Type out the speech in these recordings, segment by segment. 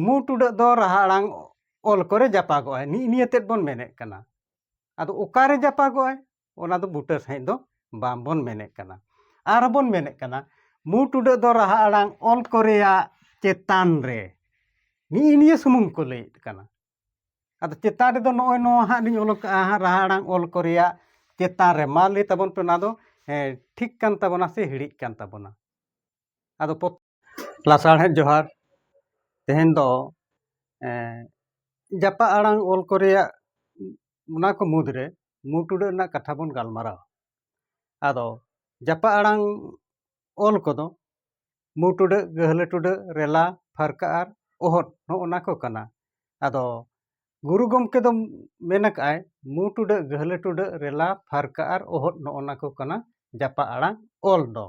ᱢᱩ ᱴᱩᱰᱟᱹᱜ ᱫᱚ ᱨᱟᱦᱟ ᱟᱲᱟᱝ ᱚᱞ ᱠᱚᱨᱮ ᱡᱟᱯᱟᱜᱚᱜᱼᱟᱭ ᱱᱤᱜ ᱱᱤᱭᱟᱹ ᱛᱮᱫ ᱵᱚᱱ ᱢᱮᱱᱮᱫ ᱠᱟᱱᱟ ᱟᱫᱚ ᱚᱠᱟᱨᱮ ᱡᱟᱯᱟᱜᱚᱜᱼᱟᱭ ᱚᱱᱟ ᱫᱚ ᱵᱩᱴᱟᱹ ᱥᱟᱺᱦᱤᱡ ᱫᱚ ᱵᱟᱝᱵᱚᱱ ᱢᱮᱱᱮᱫ ᱠᱟᱱᱟ ᱟᱨ ᱵᱚᱱ ᱢᱮᱱᱮᱫ ᱠᱟᱱᱟ ᱢᱩ ᱴᱩᱰᱟᱹᱜ ᱫᱚ ᱨᱟᱦᱟ ᱟᱲᱟᱝ ᱚᱞ ᱠᱚᱨᱮᱭᱟᱜ ᱪᱮᱛᱟᱱ ᱨᱮ ᱱᱤᱜ ᱱᱤᱭᱟᱹ ᱥᱩᱢᱩᱝ ᱠᱚ ᱞᱟᱹᱭᱮᱫ ᱠᱟᱱᱟ ᱟᱫᱚ ᱪᱮᱛᱟᱱ ᱨᱮᱫᱚ ᱱᱚᱜᱼᱚᱭ ᱱᱚᱣᱟ ᱦᱟᱸᱜ ᱞᱤᱧ ᱚᱞ ᱠᱟᱜᱼᱟ ᱦᱟᱸᱜ ᱨᱟᱦᱟ ᱟᱲᱟᱝ ᱚᱞ ᱠᱚᱨᱮᱭᱟᱜ ᱪᱮᱛᱟᱱ ᱨᱮ ᱢᱟ ᱞᱟᱹᱭ ᱛᱟᱵᱚᱱ ᱯᱮ ᱚᱱᱟ ᱫᱚ ᱴᱷᱤᱠ ᱠᱟᱱ ᱛᱟᱵᱚᱱᱟ ᱥᱮ ᱦᱤᱲᱤᱡ ᱠᱟᱱ ᱛᱟᱵᱚᱱᱟ ᱟᱫᱚ ᱞᱟᱥᱟᱲᱦᱮᱫ ᱡᱚᱦᱟᱨ ᱛᱮᱦᱮᱧ ᱫᱚ ᱡᱟᱯᱟᱜ ᱟᱲᱟᱝ ᱚᱞ ᱠᱚ ᱨᱮᱭᱟᱜ ᱚᱱᱟ ᱠᱚ ᱢᱩᱫᱽ ᱨᱮ ᱢᱩ ᱴᱩᱰᱟᱹᱜ ᱨᱮᱱᱟᱜ ᱠᱟᱛᱷᱟ ᱵᱚᱱ ᱜᱟᱞᱢᱟᱨᱟᱣᱟ ᱟᱫᱚ ᱡᱟᱯᱟᱜ ᱟᱲᱟᱝ ᱚᱞ ᱠᱚᱫᱚ ᱢᱩ ᱴᱩᱰᱟᱹᱜ ᱜᱟᱹᱦᱞᱟᱹ ᱴᱩᱰᱟᱹᱜ ᱨᱮᱞᱟ ᱯᱷᱟᱨᱠᱟ ᱟᱨ ᱚᱦᱚᱫ ᱱᱚᱜᱼᱚ ᱱᱟ ᱠᱚ ᱠᱟᱱᱟ ᱟᱫᱚ ᱜᱩᱨᱩ ᱜᱚᱢᱠᱮ ᱫᱚ ᱢᱮᱱ ᱟᱠᱟᱫ ᱟᱭ ᱢᱩ ᱴᱩᱰᱟᱹᱜ ᱜᱟᱹᱦᱞᱟᱹ ᱴᱩᱰᱟᱹᱜ ᱨᱮᱞᱟ ᱯᱷᱟᱨᱠᱟ ᱟᱨ ᱚᱦᱚᱫ ᱱᱚᱜᱼᱚ ᱱᱟ ᱠᱚ ᱠᱟᱱᱟ ᱡᱟᱯᱟᱜ ᱟᱲᱟᱝ ᱚᱞ ᱫᱚ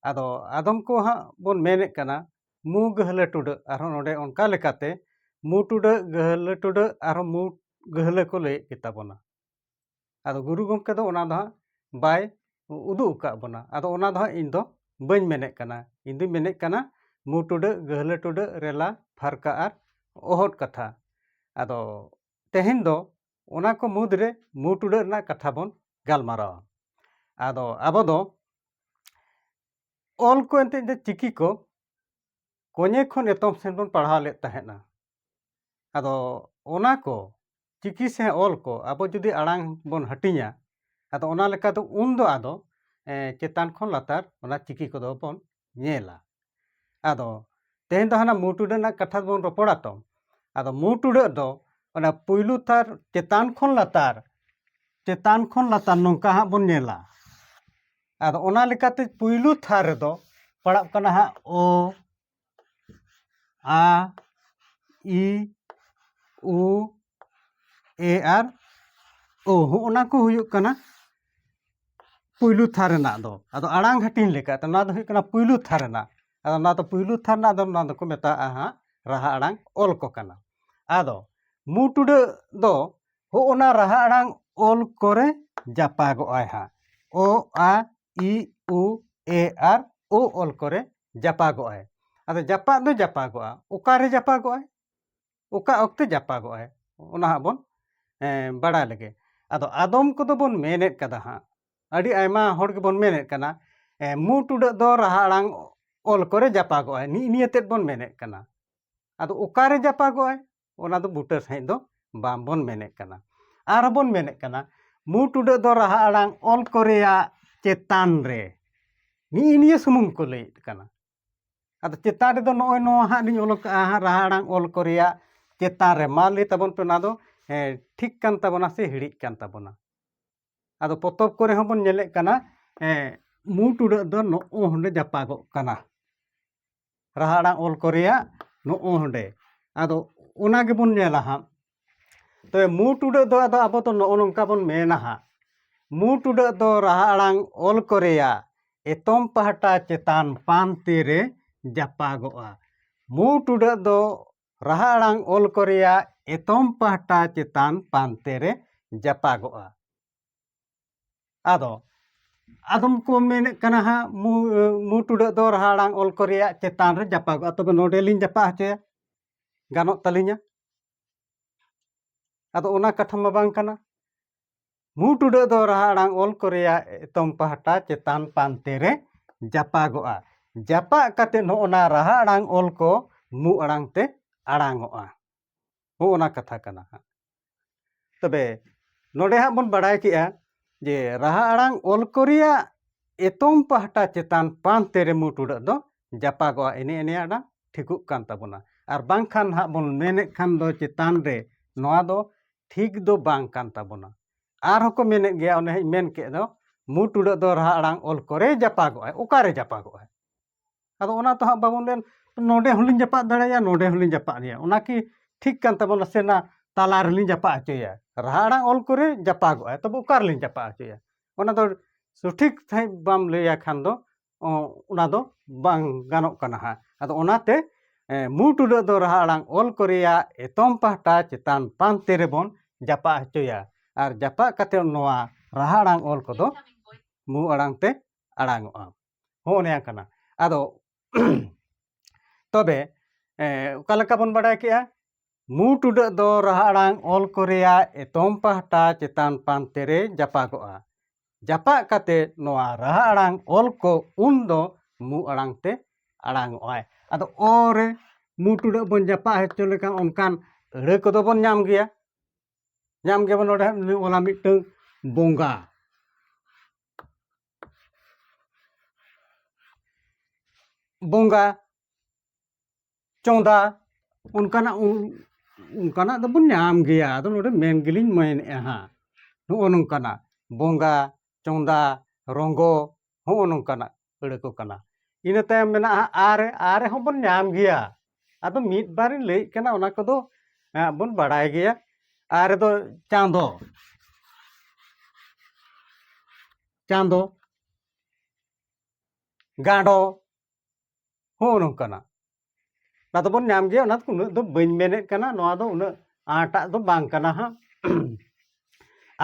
ᱟᱫᱚ ᱟᱫᱚᱢ ᱠᱚ ᱦᱟᱸᱜ ᱵᱚᱱ ᱢᱮᱱᱮᱫ ᱠᱟᱱᱟ ᱢᱩ ᱜᱟᱹᱦᱞᱟᱹ ᱴᱩᱰᱟᱹᱜ ᱟᱨᱦᱚᱸ ᱱᱚᱰᱮ ᱚᱱᱠᱟ ᱞᱮᱠᱟᱛᱮ ᱢᱩ ᱴᱩᱰᱟᱹᱜ ᱜᱟᱹᱦᱞᱟᱹ ᱴᱩᱰᱟᱹᱜ ᱟᱨᱦᱚᱸ ᱢᱩ ᱜᱟᱹᱦᱞᱟᱹ ᱠᱚ ᱞᱟᱹᱭᱮᱫ ᱜᱮᱛᱟ ᱵᱚᱱᱟ ᱟᱫᱚ ᱜᱩᱨᱩ ᱜᱚᱢᱠᱮ ᱫᱚ ᱚᱱᱟ ᱫᱚ ᱦᱟᱸᱜ ᱵᱟᱭ ᱩᱫᱩᱜ ᱟᱠᱟᱫ ᱵᱚᱱᱟ ᱟᱫᱚ ᱚᱱᱟ ᱫᱚ ᱦᱟᱸᱜ ᱤᱧ ᱫᱚ ᱵᱟᱹᱧ ᱢᱮᱱᱮᱫ ᱠᱟᱱᱟ ᱤᱧ ᱫᱩᱧ ᱢᱮᱱᱮᱫ ᱠᱟᱱᱟ ᱢᱩ ᱴᱩᱰᱟᱹᱜ ᱜᱟᱹᱦᱞᱟᱹ ᱴᱩᱰᱟᱹᱜ ᱨᱮᱞᱟ ᱯᱷᱟᱨᱠᱟ ᱟᱨ ᱚᱦᱚᱫ ᱠᱟᱛᱷᱟ ᱟᱫᱚ ᱛᱮᱦᱮᱧ ᱫᱚ ᱚᱱᱟ ᱠᱚ ᱢᱩᱫᱽ ᱨᱮ ᱢᱩ ᱴᱩᱰᱟᱹᱜ ᱨᱮᱱᱟᱜ ᱠᱟᱛᱷᱟ ᱵᱚᱱ ᱜᱟᱞᱢᱟᱨᱟᱣᱟ ᱟᱫᱚ ᱟᱵᱚ ᱫᱚ ᱚᱞ ᱠᱚ ᱮᱱᱛᱮᱫ ᱫᱚ ᱪᱤᱠᱤ ᱠᱚ ᱠᱚᱧᱮ ᱠᱷᱚᱱ ᱮᱛᱚᱢ ᱥᱮᱱ ᱵᱚᱱ ᱯᱟᱲᱦᱟᱣ ᱞᱮᱫ ᱛᱟᱦᱮᱸᱫᱼᱟ ᱟᱫᱚ ᱚᱱᱟ ᱠᱚ ᱪᱤᱠᱤ ᱥᱮ ᱚᱞ ᱠᱚ ᱟᱵᱚ ᱡᱩᱫᱤ ᱟᱲᱟᱝ ᱵᱚᱱ ᱦᱟᱹᱴᱤᱧᱟ ᱟᱫᱚ ᱚᱱᱟ ᱞᱮᱠᱟᱛᱮ ᱩᱱ ᱫᱚ ᱟᱫᱚ ᱪᱮᱛᱟᱱ ᱠᱷᱚᱱ ᱞᱟᱛᱟᱨ ᱚᱱᱟ ᱪᱤᱠᱤ ᱠᱚᱫᱚ ᱵᱚᱱ ᱧᱮᱞᱟ ᱟᱫᱚ ᱛᱮᱦᱮᱧ ᱫᱚ ᱦᱟᱱᱟ ᱢᱩ ᱴᱩᱰᱟᱹᱜ ᱨᱮᱱᱟᱜ ᱠᱟᱛᱷᱟ ᱵᱚᱱ ᱨᱚᱯᱚᱲᱟ ᱛᱚ ᱟᱫᱚ ᱢᱩ ᱴᱩᱰᱟᱹᱜ ᱫᱚ ᱚᱱᱟ ᱯᱩᱭᱞᱩ ᱛᱟᱨ ᱪᱮᱛᱟᱱ ᱠᱷᱚᱱ ᱞᱟᱛᱟᱨ ᱪᱮᱛᱟᱱ ᱠᱷᱚᱱ ᱞᱟᱛᱟᱨ ᱱᱚᱝᱠᱟ ᱦᱟᱸᱜ ᱵᱚᱱ ᱧᱮᱞᱟ ᱟᱫᱚ ᱚᱱᱟ ᱞᱮᱠᱟᱛᱮ ᱯᱩᱭᱞᱩ ᱛᱷᱟᱨ ᱨᱮᱫᱚ ᱯᱟᱲᱟᱜ ᱠᱟᱱᱟ ᱦᱟᱸᱜ ᱳ ᱟ ᱤ ᱩ ᱮ ᱟᱨ ᱳ ᱦᱚᱸᱜᱼᱚ ᱱᱟ ᱠᱚ ᱦᱩᱭᱩᱜ ᱠᱟᱱᱟ ᱯᱩᱭᱞᱩ ᱛᱷᱟᱨ ᱨᱮᱱᱟᱜ ᱫᱚ ᱟᱫᱚ ᱟᱲᱟᱝ ᱦᱟᱹᱴᱤᱧ ᱞᱮᱠᱟᱛᱮ ᱱᱚᱣᱟ ᱫᱚ ᱦᱩᱭᱩᱜ ᱠᱟᱱᱟ ᱯᱩᱭᱞᱩ ᱛᱷᱟᱨ ᱨᱮᱱᱟᱜ ᱟᱫᱚ ᱱᱚᱣᱟ ᱫᱚ ᱯᱩᱭᱞᱩ ᱛᱷᱟᱨ ᱨᱮᱱᱟᱜ ᱫᱚ ᱱᱚᱣᱟ ᱫᱚᱠᱚ ᱢᱮᱛᱟᱜᱼᱟ ᱦᱟᱸᱜ ᱨᱟᱦᱟ ᱟᱲᱟᱝ ᱚᱞ ᱠᱚ ᱠᱟᱱᱟ ᱟᱫᱚ ᱢᱩ ᱴᱩᱰᱟᱹᱜ ᱫᱚ ᱦᱚᱸᱜᱼᱚ ᱱᱟ ᱨᱟᱦᱟ ᱟᱲᱟᱝ ᱚᱞ ᱠᱚᱨᱮ ᱡᱟᱯᱟᱜᱚᱜᱼᱟᱭ ᱦᱟᱸᱜ ᱚ ᱟ ᱤ ᱩ ᱮ ᱟᱨ ᱳ ᱚᱞ ᱠᱚᱨᱮ ᱡᱟᱯᱟᱜᱚᱜᱼᱟᱭ ᱟᱫᱚ ᱡᱟᱯᱟᱜ ᱫᱚ ᱡᱟᱯᱟᱜᱚᱜᱼᱟ ᱚᱠᱟᱨᱮ ᱡᱟᱯᱟᱜᱚᱜᱼᱟᱭ ᱚᱠᱟ ᱚᱠᱛᱮ ᱡᱟᱯᱟᱜᱚᱜ ᱟᱭ ᱚᱱᱟ ᱦᱟᱸᱜ ᱵᱚᱱ ᱵᱟᱲᱟᱭ ᱞᱮᱜᱮ ᱟᱫᱚ ᱟᱫᱚᱢ ᱠᱚᱫᱚ ᱵᱚᱱ ᱢᱮᱱᱮᱫ ᱠᱟᱫᱟ ᱦᱟᱸᱜ ᱟᱹᱰᱤ ᱟᱭᱢᱟ ᱦᱚᱲ ᱜᱮᱵᱚᱱ ᱢᱮᱱᱮᱫ ᱠᱟᱱᱟ ᱢᱩ ᱴᱩᱰᱟᱹᱜ ᱫᱚ ᱨᱟᱦᱟ ᱟᱲᱟᱝ ᱚᱞ ᱠᱚᱨᱮ ᱡᱟᱯᱟᱜᱚᱜ ᱟᱭ ᱱᱤᱜ ᱱᱤᱭᱟᱹ ᱛᱮᱫ ᱵᱚᱱ ᱢᱮᱱᱮᱫ ᱠᱟᱱᱟ ᱟᱫᱚ ᱚᱠᱟᱨᱮ ᱡᱟᱯᱟᱜᱚᱜ ᱟᱭ ᱚᱱᱟ ᱫᱚ ᱵᱩᱴᱟᱹ ᱥᱟᱺᱦᱤᱡ ᱫᱚ ᱵᱟᱝ ᱵᱚᱱ ᱢᱮᱱᱮᱫ ᱠᱟᱱᱟ ᱟᱨᱦᱚᱸ ᱵᱚᱱ ᱢᱮᱱᱮᱫ ᱠᱟᱱᱟ ᱢᱩ ᱴᱩᱰᱟᱹᱜ ᱫᱚ ᱨᱟᱦᱟ ᱟᱲᱟᱝ ᱚᱞ ᱠᱚᱨᱮᱭᱟᱜ ᱪᱮᱛᱟᱱ ᱨᱮ ᱱᱤᱜ ᱱᱤᱭᱟᱹ ᱥᱩᱢᱩᱝ ᱠᱚ ᱞᱟᱹᱭᱮᱫ ᱠᱟᱱᱟ ᱟᱫᱚ ᱪᱮᱛᱟᱱ ᱨᱮᱫᱚ ᱱᱚᱜᱼᱚᱭ ᱱᱚᱣᱟ ᱦᱟᱸᱜ ᱞᱤᱧ ᱚᱞ ᱠᱟᱜᱼᱟ ᱦᱟᱸᱜ ᱨᱟᱦᱟ ᱟᱲᱟᱝ ᱚᱞ ᱠᱚ ᱨᱮᱭᱟᱜ ᱪᱮᱛᱟᱱ ᱨᱮ ᱢᱟ ᱞᱟᱹᱭ ᱛᱟᱵᱚᱱ ᱯᱮ ᱚᱱᱟ ᱫᱚ ᱴᱷᱤᱠ ᱠᱟᱱ ᱛᱟᱵᱚᱱᱟ ᱥᱮ ᱦᱤᱲᱤᱡ ᱠᱟᱱ ᱛᱟᱵᱚᱱᱟ ᱟᱫᱚ ᱯᱚᱛᱚᱵ ᱠᱚᱨᱮ ᱦᱚᱸ ᱵᱚᱱ ᱧᱮᱞᱮᱫ ᱠᱟᱱᱟ ᱢᱩ ᱴᱩᱰᱟᱹᱜ ᱫᱚ ᱱᱚᱜᱼᱚ ᱦᱚᱸᱰᱮ ᱡᱟᱯᱟᱜᱚᱜ ᱠᱟᱱᱟ ᱨᱟᱦᱟ ᱟᱲᱟᱝ ᱚᱞ ᱠᱚ ᱨᱮᱭᱟᱜ ᱱᱚᱜᱼᱚ ᱦᱚᱸᱰᱮ ᱟᱫᱚ ᱚᱱᱟ ᱜᱮᱵᱚᱱ ᱧᱮᱞᱟ ᱦᱟᱸᱜ ᱛᱚᱵᱮ ᱢᱩ ᱴᱩᱰᱟᱹᱜ ᱫᱚ ᱟᱫᱚ ᱟᱵᱚ ᱫᱚ ᱱᱚᱜᱼᱚ ᱱᱚᱝᱠᱟ ᱵᱚᱱ ᱢᱮᱱᱟ ᱦᱟᱸᱜ ᱢᱩ ᱴᱩᱰᱟᱹᱜ ᱫᱚ ᱨᱟᱦᱟ ᱟᱲᱟᱝ ᱚᱞ ᱠᱚᱨᱮᱭᱟ ᱮᱛᱚᱢ ᱯᱟᱦᱴᱟ ᱪᱮᱛᱟᱱ ᱯᱟᱱᱛᱮ ᱨᱮ ᱡᱟᱯᱟᱜᱚᱜᱼᱟ ᱢᱩ ᱴᱩᱰᱟᱹᱜ ᱫᱚ ᱨᱟᱦᱟ ᱟᱲᱟᱝ ᱚᱞ ᱠᱚᱨᱮᱭᱟ ᱮᱛᱚᱢ ᱯᱟᱦᱴᱟ ᱪᱮᱛᱟᱱ ᱯᱟᱱᱛᱮ ᱨᱮ ᱡᱟᱯᱟᱜᱚᱜᱼᱟ ᱟᱫᱚ ᱟᱫᱚᱢ ᱠᱚ ᱢᱮᱱᱮᱫ ᱠᱟᱱᱟ ᱦᱟᱸᱜ ᱢᱩ ᱢᱩ ᱴᱩᱰᱟᱹᱜ ᱫᱚ ᱨᱟᱦᱟ ᱟᱲᱟᱝ ᱚᱞ ᱠᱚᱨᱮᱭᱟ ᱪᱮᱛᱟᱱ ᱨᱮ ᱡᱟᱯᱟᱜᱚᱜᱼᱟ ᱛᱚᱵᱮ ᱱᱚᱰᱮᱞᱤᱧ ᱡᱟᱯᱟᱜ ᱦᱚᱪᱚᱭᱟ ᱜᱟᱱᱚᱜ ᱛᱟᱹᱞᱤᱧᱟ ᱟᱫᱚ ᱚᱱᱟ ᱠᱟᱛᱷᱟ ᱢᱟ ᱵᱟᱝ ᱠᱟᱱᱟ ᱢᱩᱸ ᱴᱩᱰᱟᱹᱜ ᱫᱚ ᱨᱟᱦᱟ ᱟᱲᱟᱝ ᱚᱞ ᱠᱚ ᱨᱮᱭᱟᱜ ᱮᱛᱚᱢ ᱯᱟᱦᱴᱟ ᱪᱮᱛᱟᱱ ᱯᱟᱱᱛᱮ ᱨᱮ ᱡᱟᱯᱟᱜᱚᱜᱼᱟ ᱡᱟᱯᱟᱜ ᱠᱟᱛᱮ ᱱᱚᱜᱼᱚᱱᱟ ᱨᱟᱦᱟ ᱟᱲᱟᱝ ᱚᱞ ᱠᱚ ᱢᱩᱸ ᱟᱲᱟᱝ ᱛᱮ ᱟᱲᱟᱝᱚᱜᱼᱟ ᱦᱚᱸᱜᱼᱚᱱᱟ ᱠᱟᱛᱷᱟ ᱠᱟᱱᱟ ᱦᱟᱸᱜ ᱛᱚᱵᱮ ᱱᱚᱰᱮ ᱦᱟᱸᱜ ᱵᱚᱱ ᱵᱟᱲᱟᱭ ᱠᱮᱜᱼᱟ ᱡᱮ ᱨᱟᱦᱟ ᱟᱲᱟᱝ ᱚᱞ ᱠᱚ ᱨᱮᱭᱟᱜ ᱮᱛᱚᱢ ᱯᱟᱦᱴᱟ ᱪᱮᱛᱟᱱ ᱯᱟᱱᱛᱮ ᱨᱮ ᱢᱩ ᱴᱩᱰᱟᱹᱜ ᱫᱚ ᱡᱟᱯᱟᱜᱚᱜᱼᱟ ᱮᱱᱮ ᱮᱱᱮ ᱟᱲᱟᱝ ᱴᱷᱤᱠᱚᱜ ᱠᱟᱱ ᱛᱟᱵᱚᱱᱟ ᱟᱨ ᱵᱟᱝᱠᱷᱟᱱ ᱦᱟᱸᱜ ᱵᱚᱱ ᱢᱮᱱᱮᱫ ᱠᱷᱟᱱ ᱫᱚ ᱪᱮᱛᱟᱱ ᱨᱮ ᱱᱚᱣᱟ ᱫᱚ ᱴᱷᱤᱠ ᱫᱚ ᱵᱟᱝ ᱠᱟᱱ ᱛᱟᱵᱚᱱᱟ ᱟᱨᱦᱚᱸ ᱠᱚ ᱢᱮᱱᱮᱫ ᱜᱮᱭᱟ ᱚᱱᱮ ᱦᱟᱸᱜ ᱢᱮᱱ ᱠᱮᱫ ᱫᱚ ᱢᱩ ᱴᱩᱰᱟᱹᱜ ᱫᱚ ᱨᱟᱦᱟ ᱟᱲᱟᱝ ᱚᱞ ᱠᱚᱨᱮ ᱡᱟᱯᱟᱜᱚᱜᱼᱟᱭ ᱚᱠᱟᱨᱮ ᱡᱟᱯᱟᱜᱚᱜᱼᱟᱭ ᱟᱫᱚ ᱚᱱᱟ ᱛᱚ ᱦᱟᱸᱜ ᱵᱟᱵᱚᱱ ᱢᱮᱱ ᱱᱚᱰᱮ ᱦᱚᱸᱞᱤᱧ ᱡᱟᱯᱟᱜ ᱫᱟᱲᱮᱭᱟᱭᱟ ᱱᱚᱰᱮ ᱦᱚᱸᱞᱤᱧ ᱡᱟᱯᱟᱜ ᱫᱟᱲᱮᱭᱟᱭᱟ ᱚᱱᱟ ᱠᱤ ᱴᱷᱤᱠ ᱠᱟᱱ ᱛᱟᱵᱚᱱᱟ ᱥᱮ ᱱᱟ ᱛᱟᱞᱟ ᱨᱮᱞᱤᱧ ᱡᱟᱯᱟᱜ ᱦᱚᱪᱚᱭᱮᱭᱟ ᱨᱟᱦᱟ ᱟᱲᱟᱝ ᱚᱞ ᱠᱚᱨᱮ ᱡᱟᱯᱟᱜᱚᱜᱼᱟᱭ ᱛᱚᱵᱮ ᱚᱠᱟ ᱨᱮᱞᱤᱧ ᱡᱟᱯᱟᱜ ᱦᱚᱪᱚᱭᱮᱭᱟ ᱚᱱᱟ ᱫᱚ ᱥᱚᱴᱷᱤᱠ ᱥᱟᱺᱦᱤᱡ ᱵᱟᱢ ᱞᱟᱹᱭᱟᱭ ᱠᱷᱟᱱ ᱫᱚ ᱚᱱᱟ ᱫᱚ ᱵᱟᱝ ᱜᱟᱱᱚᱜ ᱠᱟᱱᱟ ᱦᱟᱸᱜ ᱟᱫᱚ ᱚᱱᱟᱛᱮ ᱢᱩ ᱴᱩᱰᱟᱹᱜ ᱫᱚ ᱨᱟᱦᱟ ᱟᱲᱟᱝ ᱚᱞ ᱠᱚ ᱨᱮᱭᱟᱜ ᱮᱛᱚᱢ ᱯᱟᱦᱴᱟ ᱪᱮᱛᱟᱱ ᱯᱟᱱᱛᱮ ᱨᱮᱵᱚᱱ ᱡᱟᱯᱟᱜ ᱦᱚᱪᱚᱭᱟ ᱟᱨ ᱡᱟᱯᱟᱜ ᱠᱟᱛᱮᱫ ᱱᱚᱣᱟ ᱨᱟᱦᱟ ᱟᱲᱟᱝ ᱚᱞ ᱠᱚᱫᱚ ᱢᱩ ᱟᱲᱟᱝ ᱛᱮ ᱟᱲᱟᱝᱚᱜᱼᱟ ᱦᱚᱸ ᱚᱱᱮ ᱠᱟᱱᱟ ᱟᱫᱚ ᱛᱚᱵᱮ ᱚᱠᱟ ᱞᱮᱠᱟ ᱵᱚᱱ ᱵᱟᱰᱟᱭ ᱠᱮᱜᱼᱟ ᱢᱩ ᱴᱩᱰᱟᱹᱜ ᱫᱚ ᱨᱟᱦᱟ ᱟᱲᱟᱝ ᱚᱞ ᱠᱚ ᱨᱮᱭᱟᱜ ᱮᱛᱚᱢ ᱯᱟᱦᱴᱟ ᱪᱮᱛᱟᱱ ᱯᱟᱱᱛᱮ ᱨᱮ ᱡᱟᱯᱟᱜᱚᱜᱼᱟ ᱡᱟᱯᱟᱜ ᱠᱟᱛᱮ ᱱᱚᱣᱟ ᱨᱟᱦᱟ ᱟᱲᱟᱝ ᱚᱞ ᱠᱚ ᱩᱱ ᱫᱚ ᱢᱩ ᱟᱲᱟᱝ ᱛᱮ ᱟᱲᱟᱝᱚᱜᱼᱟᱭ ᱟᱫᱚ ᱚ ᱨᱮ ᱢᱩ ᱴᱩᱰᱟᱹᱜ ᱵᱚᱱ ᱡᱟᱯᱟᱜ ᱦᱚᱪᱚ ᱞᱮᱠᱷᱟᱱ ᱚᱱᱠᱟᱱ ᱟᱹᱲᱟᱹ ᱠᱚᱫᱚ ᱵᱚᱱ ᱧᱟᱢ ᱜᱮᱭᱟ ᱧᱟᱢ ᱜᱮᱵᱚᱱ ᱱᱚᱰᱮ ᱚᱞᱟ ᱢᱤᱫᱴᱟᱝ ᱵᱚᱸᱜᱟ ᱵᱚᱸᱜᱟ ᱪᱚᱸᱫᱟ ᱚᱱᱠᱟᱱᱟᱜ ᱚᱱᱠᱟᱱᱟᱜ ᱫᱚᱵᱚᱱ ᱧᱟᱢ ᱜᱮᱭᱟ ᱟᱫᱚ ᱱᱚᱰᱮ ᱢᱮᱱ ᱜᱮᱞᱤᱧ ᱢᱮᱱᱮᱫᱼᱟ ᱦᱟᱸᱜ ᱱᱚᱜᱼᱚ ᱱᱚᱝᱠᱟᱱᱟᱜ ᱵᱚᱸᱜᱟ ᱪᱚᱸᱫᱟ ᱨᱚᱸᱜᱚ ᱦᱚᱸᱜᱼᱚ ᱱᱚᱝᱠᱟᱱᱟᱜ ᱟᱹᱲᱟᱹ ᱠᱚ ᱠᱟᱱᱟ ᱤᱱᱟᱹ ᱛᱟᱭᱚᱢ ᱢᱮᱱᱟᱜᱼᱟ ᱟᱨᱮ ᱟᱨᱮ ᱦᱚᱸᱵᱚᱱ ᱧᱟᱢ ᱜᱮᱭᱟ ᱟᱫᱚ ᱢᱤᱫ ᱵᱟᱨᱤᱧ ᱞᱟᱹᱭᱮᱫ ᱠᱟᱱᱟ ᱚᱱᱟ ᱠᱚᱫᱚ ᱵᱚᱱ ᱵᱟᱲᱟᱭ ᱜᱮᱭᱟ ᱟᱨ ᱫᱚ ᱪᱟᱸᱫᱚ ᱪᱟᱸᱫᱚ ᱜᱟᱸᱰᱚ ᱦᱚᱸ ᱱᱚᱝᱠᱟᱱᱟᱜ ᱚᱱᱟ ᱫᱚᱵᱚᱱ ᱧᱟᱢ ᱜᱮᱭᱟ ᱚᱱᱟ ᱩᱱᱟᱹᱜ ᱫᱚ ᱵᱟᱹᱧ ᱢᱮᱱᱮᱫ ᱠᱟᱱᱟ ᱱᱚᱣᱟ ᱫᱚ ᱩᱱᱟᱹᱜ ᱟᱸᱴᱟᱜ ᱫᱚ ᱵᱟᱝ ᱠᱟᱱᱟ ᱦᱟᱸᱜ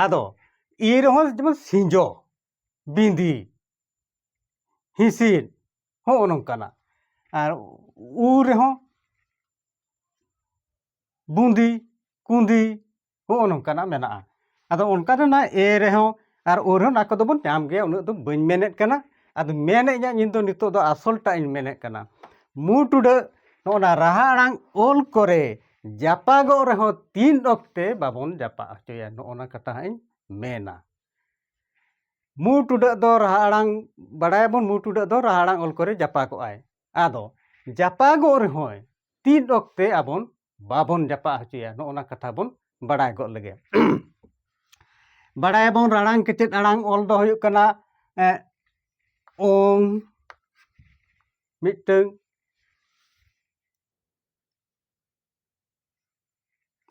ᱟᱫᱚ ᱤᱨ ᱦᱚᱸ ᱡᱮᱢᱚᱱ ᱥᱤᱸᱡᱚ ᱵᱤᱸᱫᱤ ᱦᱤᱸᱥᱤᱫ ᱦᱚᱸᱜᱼᱚ ᱱᱚᱝᱠᱟᱱᱟᱜ ᱟᱨ ᱩ ᱨᱮᱦᱚᱸ ᱵᱩᱸᱫᱤ ᱠᱩᱸᱫᱤ ᱦᱚᱸᱜᱼᱚ ᱱᱚᱝᱠᱟᱱᱟᱜ ᱢᱮᱱᱟᱜᱼᱟ ᱟᱫᱚ ᱚᱱᱠᱟ ᱫᱚ ᱚᱱᱟ ᱮ ᱨᱮᱦᱚᱸ ᱟᱨ ᱳ ᱨᱮᱦᱚᱸ ᱚᱱᱟ ᱠᱚᱫᱚ ᱵᱚᱱ ᱧᱟᱢ ᱜᱮᱭᱟ ᱩᱱᱟᱹᱜ ᱫᱚ ᱵᱟᱹᱧ ᱢᱮᱱᱮᱫ ᱠᱟᱱᱟ ᱟᱫᱚ ᱢᱮᱱᱮᱫ ᱜᱮᱭᱟ ᱤᱧ ᱫᱚ ᱱᱤᱛᱚᱜ ᱫᱚ ᱟᱥᱚᱞᱴᱟᱜ ᱤᱧ ᱢᱮᱱᱮᱫ ᱠᱟᱱᱟ ᱢᱩ ᱴᱩᱰᱟᱹᱜ ᱱᱚᱜᱼᱚ ᱱᱟ ᱨᱟᱦᱟ ᱟᱲᱟᱝ ᱚᱞ ᱠᱚᱨᱮ ᱡᱟᱯᱟᱜᱚᱜ ᱨᱮᱦᱚᱸ ᱛᱤᱱ ᱚᱠᱛᱮ ᱵᱟᱵᱚᱱ ᱡᱟᱯᱟᱜ ᱦᱚᱪᱚᱭᱟ ᱱᱚᱜᱼᱚ ᱱᱟ ᱠᱟᱛᱷᱟ ᱦᱟᱸᱜ ᱤᱧ ᱢᱮᱱᱟ ᱢᱩ ᱴᱩᱰᱟᱹᱜ ᱫᱚ ᱨᱟᱦᱟ ᱟᱲᱟᱝ ᱵᱟᱰᱟᱭᱟᱵᱚᱱ ᱢᱩ ᱴᱩᱰᱟᱹᱜ ᱫᱚ ᱨᱟᱦᱟ ᱟᱲᱟᱝ ᱚᱞ ᱠᱚᱨᱮ ᱡᱟᱯᱟᱜᱚᱜᱼᱟᱭ ᱟᱫᱚ ᱡᱟᱯᱟᱜᱚᱜ ᱨᱮᱦᱚᱸᱭ ᱛᱤᱱ ᱚᱠᱛᱮ ᱟᱵᱚᱱ ᱵᱟᱵᱚᱱ ᱡᱟᱯᱟᱜ ᱦᱚᱪᱚᱭᱟ ᱱᱚᱜᱼᱚ ᱱᱟ ᱠᱟᱛᱷᱟ ᱵᱚᱱ ᱵᱟᱰᱟᱭ ᱜᱚᱫ ᱞᱮᱜᱮ ᱵᱟᱰᱟᱭᱟᱵᱚᱱ ᱨᱟᱲᱟᱝ ᱠᱮᱪᱮᱫ ᱟᱲᱟᱝ ᱚᱞ ᱫᱚ ᱦᱩᱭᱩᱜ ᱠᱟᱱᱟ ᱚᱝ ᱢᱤᱫᱴᱟᱹᱝ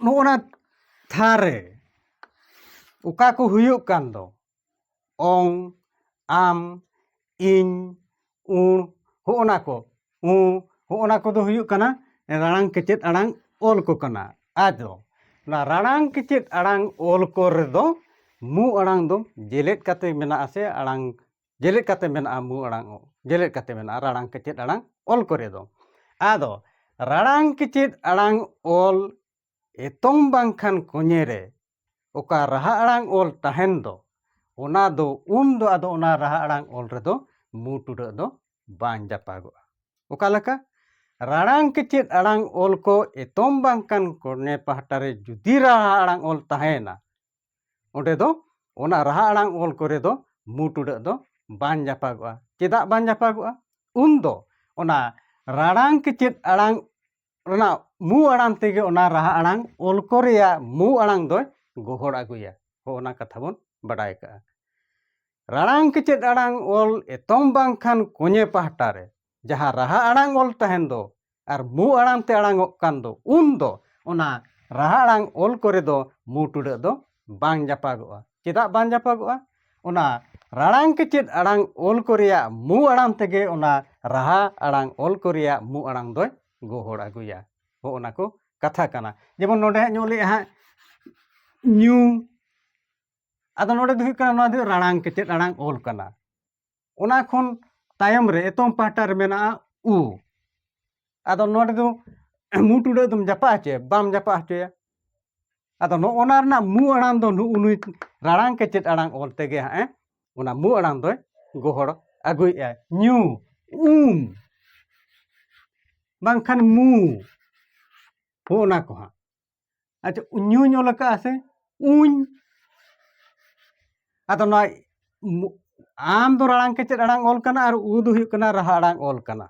ᱱᱚᱜᱼᱚ ᱱᱟ ᱛᱷᱟᱨ ᱨᱮ ᱚᱠᱟ ᱠᱚ ᱦᱩᱭᱩᱜ ᱠᱟᱱ ᱫᱚ ᱚᱝ ᱟᱢ ᱤᱧ ᱩᱬ ᱦᱚᱜᱼᱚ ᱱᱟ ᱠᱚ ᱩ ᱦᱚᱜᱼᱚ ᱱᱟ ᱠᱚᱫᱚ ᱦᱩᱭᱩᱜ ᱠᱟᱱᱟ ᱨᱟᱲᱟᱝ ᱠᱮᱪᱮᱫ ᱟᱲᱟᱝ ᱚᱞ ᱠᱚ ᱠᱟᱱᱟ ᱟᱫᱚ ᱚᱱᱟ ᱨᱟᱲᱟᱝ ᱠᱮᱪᱮᱫ ᱟᱲᱟᱝ ᱚᱞ ᱠᱚ ᱨᱮᱫᱚ ᱢᱩ ᱟᱲᱟᱝ ᱫᱚ ᱡᱮᱞᱮᱫ ᱠᱟᱛᱮ ᱢᱮᱱᱟᱜ ᱟᱥᱮ ᱟᱲᱟᱝ ᱡᱮᱞᱮᱫ ᱠᱟᱛᱮ ᱢᱮᱱᱟᱜᱼᱟ ᱢᱩ ᱟᱲᱟᱝ ᱡᱮᱞᱮᱫ ᱠᱟᱛᱮ ᱢᱮᱱᱟᱜᱼᱟ ᱨᱟᱲᱟᱝ ᱠᱮᱪᱮᱫ ᱟᱲᱟᱝ ᱚᱞ ᱠᱚᱨᱮ ᱫᱚ ᱟᱫᱚ ᱨᱟᱲᱟᱝ ᱠᱮᱪᱮᱫ ᱟᱲᱟᱝ ᱚᱞ ᱮᱛᱚᱢ ᱵᱟᱝᱠᱷᱟᱱ ᱠᱚᱧᱮ ᱨᱮ ᱚᱠᱟ ᱨᱟᱦᱟ ᱟᱲᱟᱝ ᱚᱞ ᱛᱟᱦᱮᱱ ᱫᱚ ᱚᱱᱟ ᱫᱚ ᱩᱱ ᱫᱚ ᱟᱫᱚ ᱚᱱᱟ ᱨᱟᱦᱟ ᱟᱲᱟᱝ ᱚᱞ ᱨᱮᱫᱚ ᱢᱩ ᱴᱩᱰᱟᱹᱜ ᱫᱚ ᱵᱟᱝ ᱡᱟᱯᱟᱜᱚᱜᱼᱟ ᱚᱠᱟ ᱞᱮᱠᱟ ᱨᱟᱲᱟᱝ ᱠᱮᱪᱮᱫ ᱟᱲᱟᱝ ᱚᱞ ᱠᱚ ᱮᱛᱚᱢ ᱵᱟᱝᱠᱷᱟᱱ ᱠᱚᱧᱮ ᱯᱟᱦᱴᱟ ᱨᱮ ᱡᱩᱫᱤ ᱨᱟᱦᱟ ᱟᱲᱟᱝ ᱚᱞ ᱛᱟᱦᱮᱱᱟ ᱚᱸᱰᱮ ᱫᱚ ᱚᱱᱟ ᱨᱟᱦᱟ ᱟᱲᱟᱝ ᱚᱞ ᱠᱚᱨᱮ ᱫᱚ ᱢᱩ ᱴᱩᱰᱟᱹᱜ ᱫᱚ ᱵᱟᱝ ᱡᱟᱯᱟᱜᱚᱜᱼᱟ ᱪᱮᱫᱟᱜ ᱵᱟᱝ ᱡᱟᱯᱟᱜᱚᱜᱼᱟ ᱩᱱ ᱫᱚ ᱚᱱᱟ ᱨᱟᱲᱟᱝ ᱠᱮᱪᱮᱫ ᱟᱲᱟᱝ ᱨᱮᱱᱟᱜ ᱢᱩ ᱟᱲᱟᱝ ᱛᱮᱜᱮ ᱚᱱᱟ ᱨᱟᱦᱟ ᱟᱲᱟᱝ ᱚᱞ ᱠᱚ ᱨᱮᱭᱟᱜ ᱢᱩ ᱟᱲᱟᱝ ᱫᱚᱭ ᱜᱚᱦᱚᱲ ᱟᱹᱜᱩᱭᱟ ᱦᱚᱸ ᱚᱱᱟ ᱠᱟᱛᱷᱟ ᱵᱚᱱ ᱵᱟᱰᱟᱭ ᱠᱟᱜᱼᱟ ᱨᱟᱲᱟᱝ ᱠᱮᱪᱮᱫ ᱟᱲᱟᱝ ᱚᱞ ᱮᱛᱚᱢ ᱵᱟᱝᱠᱷᱟᱱ ᱠᱚᱧᱮ ᱯᱟᱦᱴᱟ ᱨᱮ ᱡᱟᱦᱟᱸ ᱨᱟᱦᱟ ᱟᱲᱟᱝ ᱚᱞ ᱛᱟᱦᱮᱱ ᱫᱚ ᱟᱨ ᱢᱩ ᱟᱲᱟᱝ ᱛᱮ ᱟᱲᱟᱝᱚᱜ ᱠᱟᱱ ᱫᱚ ᱩᱱ ᱫᱚ ᱚᱱᱟ ᱨᱟᱦᱟ ᱟᱲᱟᱝ ᱚᱞ ᱠᱚᱨᱮ ᱫᱚ ᱢᱩ ᱴᱩᱰᱟᱹᱜ ᱫᱚ ᱵᱟᱝ ᱡᱟᱯᱟᱜᱚᱜᱼᱟ ᱪᱮᱫᱟᱜ ᱵᱟᱝ ᱡᱟᱯᱟᱜᱚᱜᱼᱟ ᱚᱱᱟ ᱨᱟᱲᱟᱝ ᱠᱮᱪᱮᱫ ᱟᱲᱟᱝ ᱚᱞ ᱠᱚ ᱨᱮᱭᱟᱜ ᱢᱩ ᱟᱲᱟᱝ ᱛᱮᱜᱮ ᱚᱱᱟ ᱨᱟᱦᱟ ᱟᱲᱟᱝ ᱚᱞ ᱠᱚ ᱨᱮᱭᱟᱜ ᱢᱩ ᱟᱲᱟᱝ ᱫᱚᱭ ᱜᱚᱦᱚᱲ ᱟᱹᱜᱩᱭᱟ ᱦᱚᱸ ᱚᱱᱟ ᱠᱚ ᱠᱟᱛᱷᱟ ᱠᱟᱱᱟ ᱡᱮᱢᱚᱱ ᱱᱚᱰᱮ ᱦᱟᱸᱜ ᱧᱚᱜ ᱞᱮᱜᱼᱟ ᱦᱟᱸᱜ ᱧᱩ ᱟᱫᱚ ᱱᱚᱰᱮ ᱫᱚ ᱦᱩᱭᱩᱜ ᱠᱟᱱᱟ ᱱᱚᱣᱟ ᱫᱚ ᱨᱟᱲᱟᱝ ᱠᱮᱪᱮᱫ ᱟᱲᱟᱝ ᱚᱞ ᱠᱟᱱᱟ ᱚᱱᱟ ᱠᱷᱚᱱ ᱛᱟᱭᱚᱢ ᱨᱮ ᱮᱛᱚᱢ ᱯᱟᱦᱴᱟ ᱨᱮ ᱢᱮᱱᱟᱜᱼᱟ ᱩ ᱟᱫᱚ ᱱᱚᱰᱮ ᱫᱚ ᱢᱩ ᱴᱩᱰᱟᱹᱜ ᱫᱚᱢ ᱡᱟᱯᱟᱜ ᱦᱚᱪᱚᱭᱟ ᱵᱟᱢ ᱡᱟᱯᱟᱜ ᱦᱚᱪᱚᱭᱟ ᱟᱫᱚ ᱱᱚᱜᱼᱚ ᱱᱟ ᱨᱮᱱᱟᱜ ᱢᱩ ᱟᱲᱟᱝ ᱫᱚ ᱱᱩᱜ ᱱᱩᱭ ᱨᱟᱲᱟᱝ ᱠᱮᱪᱮᱫ ᱟᱲᱟᱝ ᱚᱞ ᱛᱮᱜᱮ ᱦᱟᱸᱜ ᱮ ᱚᱱᱟ ᱢᱩ ᱟᱲᱟᱝ ᱫᱚᱭ ᱜᱚᱦᱚᱲ ᱟᱹᱜᱩᱭᱮᱫᱼᱟᱭ ᱧᱩ ᱩᱢ ᱵᱟᱝᱠᱷᱟᱱ ᱢᱩ ᱦᱚᱸᱜᱼᱚ ᱱᱟ ᱠᱚ ᱦᱟᱸᱜ ᱟᱪᱪᱷᱟ ᱧᱩᱧ ᱚᱞ ᱟᱠᱟᱫᱼᱟ ᱥᱮ ᱩᱧ ᱟᱫᱚ ᱱᱚᱣᱟ ᱟᱢ ᱫᱚ ᱨᱟᱲᱟᱝ ᱠᱮᱪᱮᱫ ᱟᱲᱟᱝ ᱚᱞ ᱠᱟᱱᱟ ᱟᱨ ᱩ ᱫᱚ ᱦᱩᱭᱩᱜ ᱠᱟᱱᱟ ᱨᱟᱦᱟ ᱟᱲᱟᱝ ᱚᱞ ᱠᱟᱱᱟ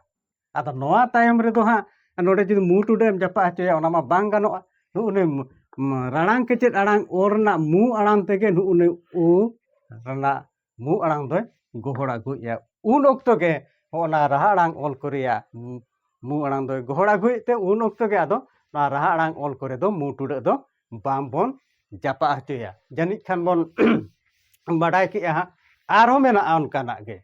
ᱟᱫᱚ ᱱᱚᱣᱟ ᱛᱟᱭᱚᱢ ᱨᱮᱫᱚ ᱦᱟᱸᱜ ᱱᱚᱰᱮ ᱡᱩᱫᱤ ᱢᱩ ᱴᱩᱰᱟᱹᱜ ᱮᱢ ᱡᱟᱯᱟᱜ ᱦᱚᱪᱚᱭᱟ ᱚᱱᱟ ᱢᱟ ᱵᱟᱝ ᱜᱟᱱᱚᱜᱼᱟ ᱱᱩᱜ ᱩᱱᱤ ᱨᱟᱲᱟᱝ ᱠᱮᱪᱮᱫ ᱟᱲᱟᱝ ᱚᱞ ᱨᱮᱱᱟᱜ ᱢᱩ ᱟᱲᱟᱝ ᱛᱮᱜᱮ ᱱᱩᱜ ᱩᱱᱤ ᱩ ᱨᱮᱱᱟᱜ ᱢᱩ ᱟᱲᱟᱝ ᱫᱚᱭ ᱜᱚᱦᱚᱲ ᱟᱹᱜᱩᱭᱮᱫᱼᱟ ᱩᱱ ᱚᱠᱛᱚ ᱜᱮ ᱦᱚᱸᱜᱼᱚᱱᱟ ᱨᱟᱦᱟ ᱟᱲᱟᱝ ᱚᱞ ᱠᱚ ᱨᱮᱭᱟᱜ ᱢᱩ ᱟᱲᱟᱝ ᱫᱚᱭ ᱜᱚᱦᱚᱲ ᱟᱹᱜᱩᱭᱮᱫ ᱛᱮ ᱩᱱ ᱚᱠᱛᱚ ᱜᱮ ᱟᱫᱚ ᱱᱚᱣᱟ ᱨᱟᱦᱟ ᱟᱲᱟᱝ ᱚᱞ ᱠᱚᱨᱮ ᱫᱚ ᱢᱩ ᱴᱩᱰᱟᱹᱜ ᱫᱚ ᱵᱟᱝᱵᱚᱱ ᱡᱟᱯᱟᱜ ᱦᱚᱪᱚᱭᱟ ᱡᱟᱹᱱᱤᱡ ᱠᱷᱟᱱ ᱵᱚᱱ ᱵᱟᱰᱟᱭ ᱠᱮᱜᱼᱟ ᱦᱟᱸᱜ ᱟᱨᱦᱚᱸ ᱢᱮᱱᱟᱜᱼᱟ ᱚᱱᱠᱟᱱᱟᱜ ᱜᱮ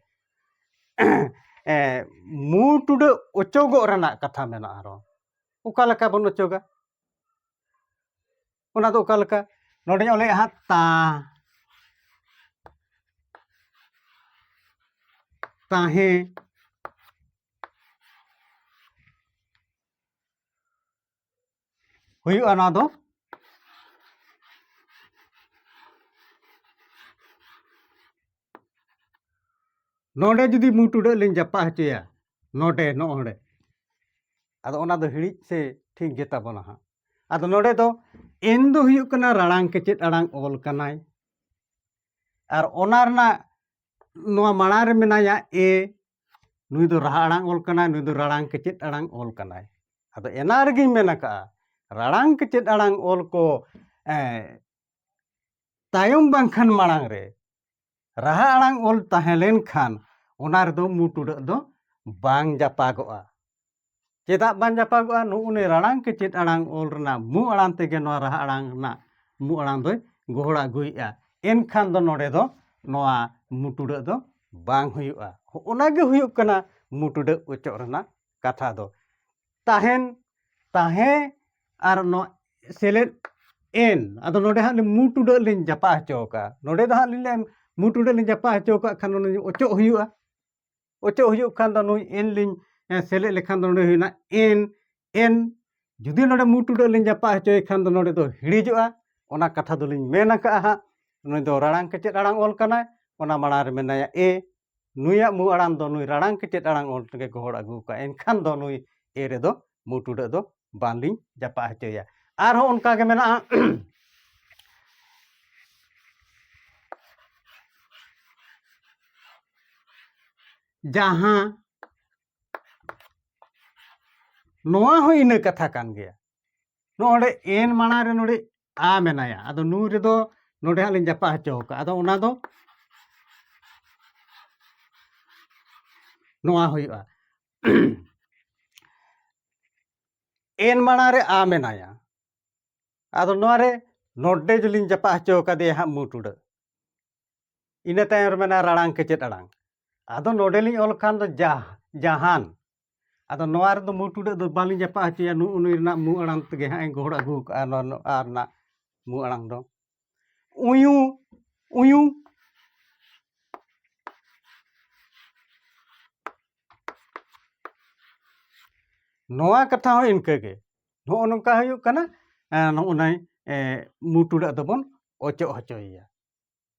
ᱢᱩ ᱴᱩᱰᱟᱹᱜ ᱚᱪᱚᱜᱚᱜ ᱨᱮᱱᱟᱜ ᱠᱟᱛᱷᱟ ᱢᱮᱱᱟᱜᱼᱟ ᱟᱨᱦᱚᱸ ᱚᱠᱟ ᱞᱮᱠᱟ ᱵᱚᱱ ᱚᱪᱚᱜᱟ ᱚᱱᱟ ᱫᱚ ᱚᱠᱟ ᱞᱮᱠᱟ ᱱᱚᱰᱮᱧ ᱚᱞᱮᱫᱼᱟ ᱦᱟᱸᱜ ᱛᱟ ᱛᱟᱦᱮᱸ ᱦᱩᱭᱩᱜᱼᱟ ᱱᱚᱣᱟ ᱫᱚ ᱱᱚᱰᱮ ᱡᱩᱫᱤ ᱢᱩ ᱴᱩᱰᱟᱹᱜ ᱞᱤᱧ ᱡᱟᱯᱟᱜ ᱦᱚᱪᱚᱭᱟ ᱱᱚᱰᱮ ᱱᱚᱜᱼᱚᱸᱰᱮ ᱟᱫᱚ ᱚᱱᱟ ᱫᱚ ᱦᱤᱲᱤᱡ ᱥᱮ ᱴᱷᱤᱠ ᱜᱮᱛᱟ ᱵᱚᱱᱟ ᱦᱟᱸᱜ ᱟᱫᱚ ᱱᱚᱰᱮ ᱫᱚ ᱮᱱ ᱫᱚ ᱦᱩᱭᱩᱜ ᱠᱟᱱᱟ ᱨᱟᱲᱟᱝ ᱠᱮᱪᱮᱫ ᱟᱲᱟᱝ ᱚᱞ ᱠᱟᱱᱟᱭ ᱟᱨ ᱚᱱᱟ ᱨᱮᱱᱟᱜ ᱱᱚᱣᱟ ᱢᱟᱲᱟᱝ ᱨᱮ ᱢᱮᱱᱟᱭᱟ ᱮ ᱱᱩᱭ ᱫᱚ ᱨᱟᱦᱟ ᱟᱲᱟᱝ ᱚᱞ ᱠᱟᱱᱟᱭ ᱱᱩᱭ ᱫᱚ ᱨᱟᱲᱟᱝ ᱠᱮᱪᱮᱫ ᱟᱲᱟᱝ ᱚᱞ ᱠᱟᱱᱟᱭ ᱟᱫᱚ ᱮᱱᱟ ᱨᱮᱜᱮᱧ ᱢᱮᱱ ᱟᱠᱟᱜᱼᱟ ᱨᱟᱲᱟᱝ ᱠᱮᱪᱮᱫ ᱟᱲᱟᱝ ᱚᱞ ᱠᱚ ᱛᱟᱭᱚᱢ ᱵᱟᱝᱠᱷᱟᱱ ᱢᱟᱲᱟᱝ ᱨᱮ ᱨᱟᱦᱟ ᱟᱲᱟᱝ ᱚᱞ ᱛᱟᱦᱮᱸ ᱞᱮᱱᱠᱷᱟᱱ ᱚᱱᱟ ᱨᱮᱫᱚ ᱢᱩ ᱴᱩᱰᱟᱹᱜ ᱫᱚ ᱵᱟᱝ ᱡᱟᱯᱟᱜᱚᱜᱼᱟ ᱪᱮᱫᱟᱜ ᱵᱟᱝ ᱡᱟᱯᱟᱜᱚᱜᱼᱟ ᱱᱩᱜᱼᱩ ᱱᱩᱭ ᱨᱟᱲᱟᱝ ᱠᱮ ᱪᱮᱫ ᱟᱲᱟᱝ ᱚᱞ ᱨᱮᱱᱟᱜ ᱢᱩ ᱟᱲᱟᱝ ᱛᱮᱜᱮ ᱱᱚᱣᱟ ᱨᱟᱦᱟ ᱟᱲᱟᱝ ᱨᱮᱱᱟᱜ ᱢᱩ ᱟᱲᱟᱝ ᱫᱚᱭ ᱜᱚᱦᱚᱲ ᱟᱹᱜᱩᱭᱮᱫᱼᱟ ᱮᱱᱠᱷᱟᱱ ᱫᱚ ᱱᱚᱰᱮ ᱫᱚ ᱱᱚᱣᱟ ᱢᱩ ᱴᱩᱰᱟᱹᱜ ᱫᱚ ᱵᱟᱝ ᱦᱩᱭᱩᱜᱼᱟ ᱚᱱᱟᱜᱮ ᱦᱩᱭᱩᱜ ᱠᱟᱱᱟ ᱢᱩ ᱴᱩᱰᱟᱹᱜ ᱚᱪᱚᱜ ᱨᱮᱱᱟᱜ ᱠᱟᱛᱷᱟ ᱫᱚ ᱛᱟᱦᱮᱱ ᱛᱟᱦᱮᱸ ᱟᱨ ᱱᱚᱣᱟ ᱥᱮᱞᱮᱫ ᱮᱱ ᱟᱫᱚ ᱱᱚᱰᱮ ᱦᱟᱸᱜ ᱢᱩ ᱴᱩᱰᱟᱹᱜ ᱞᱤᱧ ᱡᱟᱯᱟᱜ ᱦᱚᱪᱚ ᱟᱠᱟᱫᱼᱟ ᱱᱚᱰᱮ ᱫᱚ ᱦᱟᱸᱜ ᱞᱤᱧ ᱞᱟᱹᱭᱟ ᱢᱩ ᱴᱩᱰᱟᱹᱜ ᱞᱤᱧ ᱡᱟᱯᱟᱜ ᱦᱚᱪᱚ ᱟᱠᱟᱫ ᱠᱷᱟᱱ ᱱᱚᱰᱮ ᱚᱪᱚᱜ ᱦᱩᱭᱩᱜᱼᱟ ᱚᱪᱚᱜ ᱦᱩᱭᱩᱜ ᱠᱷᱟᱱ ᱫᱚ ᱱᱩᱭ ᱮᱱ ᱞᱤᱧ ᱥᱮᱞᱮᱫ ᱞᱮᱠᱷᱟᱱ ᱫᱚ ᱱᱚᱰᱮ ᱦᱩᱭᱱᱟ ᱮᱱ ᱮᱱ ᱡᱩᱫᱤ ᱱᱚᱰᱮ ᱢᱩ ᱴᱩᱰᱟᱹᱜ ᱞᱤᱧ ᱡᱟᱯᱟᱜ ᱦᱚᱪᱚᱭ ᱠᱷᱟᱱ ᱫᱚ ᱱᱚᱰᱮ ᱫᱚ ᱦᱤᱲᱤᱡᱚᱜᱼᱟ ᱚᱱᱟ ᱠᱟᱛᱷᱟ ᱫᱚᱞᱤᱧ ᱢᱮᱱ ᱟᱠᱟᱫᱼᱟ ᱦᱟᱸᱜ ᱱᱩᱭ ᱫᱚ ᱨᱟᱲᱟᱝ ᱠᱮᱪᱮᱫ ᱟᱲᱟᱝ ᱚᱞ ᱠᱟᱱᱟᱭ ᱚᱱᱟ ᱢᱟᱲᱟᱝ ᱨᱮ ᱢᱮᱱᱟᱭᱟ ᱮ ᱱᱩᱭᱟᱜ ᱢᱩ ᱟᱲᱟᱝ ᱫᱚ ᱱᱩᱭ ᱨᱟᱲᱟᱝ ᱠᱮᱴᱮᱡ ᱟᱲᱟᱝ ᱚᱞ ᱛᱮᱜᱮ ᱜᱚᱦᱚᱲ ᱟᱹᱜᱩ ᱟᱠᱟᱫᱼᱟ ᱮᱱᱠᱷᱟᱱ ᱫᱚ ᱱᱩᱭ ᱮ ᱨᱮᱫᱚ ᱢᱩ ᱴᱩᱰᱟᱹᱜ ᱫᱚ ᱵᱟᱝᱞᱤᱧ ᱡᱟᱯᱟᱜ ᱦᱚᱪᱚᱭᱟ ᱟᱨᱦᱚᱸ ᱚᱱᱠᱟ ᱜᱮ ᱢᱮᱱᱟᱜᱼᱟ ᱡᱟᱦᱟᱸ ᱱᱚᱣᱟ ᱦᱚᱸ ᱤᱱᱟᱹ ᱠᱟᱛᱷᱟ ᱠᱟᱱ ᱜᱮᱭᱟ ᱱᱚᱰᱮ ᱮᱱ ᱢᱟᱲᱟᱝ ᱨᱮ ᱱᱚᱰᱮ ᱟ ᱢᱮᱱᱟᱭᱟ ᱟᱫᱚ ᱱᱩ ᱨᱮᱫᱚ ᱱᱚᱰᱮ ᱦᱟᱸᱜ ᱞᱤᱧ ᱡᱟᱯᱟᱜ ᱦᱚᱪᱚ ᱟᱠᱟᱫᱼᱟ ᱟᱫᱚ ᱚᱱᱟ ᱫᱚ ᱱᱚᱣᱟ ᱦᱩᱭᱩᱜᱼᱟ ᱮᱱ ᱢᱟᱲᱟᱝ ᱨᱮ ᱟ ᱢᱮᱱᱟᱭᱟ ᱟᱫᱚ ᱱᱚᱣᱟ ᱨᱮ ᱱᱚᱰᱮ ᱡᱩᱞᱤᱧ ᱡᱟᱯᱟᱜ ᱦᱚᱪᱚ ᱟᱠᱟᱫᱮᱭᱟ ᱦᱟᱸᱜ ᱢᱩ ᱴᱩᱰᱟᱹ ᱤᱱᱟᱹ ᱛᱟᱭᱚᱢ ᱨᱮ ᱢᱮᱱᱟᱜᱼᱟ ᱨᱟᱲᱟᱝ ᱠᱮᱪᱮᱫ ᱟᱲᱟᱝ ᱟᱫᱚ ᱱᱚᱰᱮᱞᱤᱧ ᱚᱞ ᱠᱷᱟᱱ ᱫᱚ ᱡᱟ ᱡᱟᱦᱟᱱ ᱟᱫᱚ ᱱᱚᱣᱟ ᱨᱮᱫᱚ ᱢᱩ ᱴᱩᱰᱟᱹᱜ ᱫᱚ ᱵᱟᱹᱞᱤᱧ ᱡᱟᱯᱟᱜ ᱦᱚᱪᱚᱭᱟ ᱱᱩᱜ ᱩᱱᱤ ᱨᱮᱱᱟᱜ ᱢᱩ ᱟᱲᱟᱝ ᱛᱮᱜᱮ ᱦᱟᱸᱜ ᱤᱧ ᱜᱚᱦᱚᱲ ᱟᱹᱜᱩ ᱠᱟᱜᱼᱟ ᱱᱚᱣᱟ ᱱᱚᱣᱟ ᱨᱮᱱᱟᱜ ᱢᱩ ᱟᱲᱟᱝ ᱫᱚ ᱩᱭᱩ ᱩᱭᱩ ᱱᱚᱣᱟ ᱠᱟᱛᱷᱟ ᱦᱚᱸ ᱤᱱᱠᱟᱹᱜᱮ ᱱᱚᱜᱼᱚ ᱱᱚᱝᱠᱟ ᱦᱩᱭᱩᱜ ᱠᱟᱱᱟ ᱱᱚᱜᱼᱚ ᱱᱟᱭ ᱢᱩ ᱴᱩᱰᱟᱹᱜ ᱫᱚᱵᱚᱱ ᱚᱪᱚᱜ ᱦᱚᱪᱚᱭᱮᱭᱟ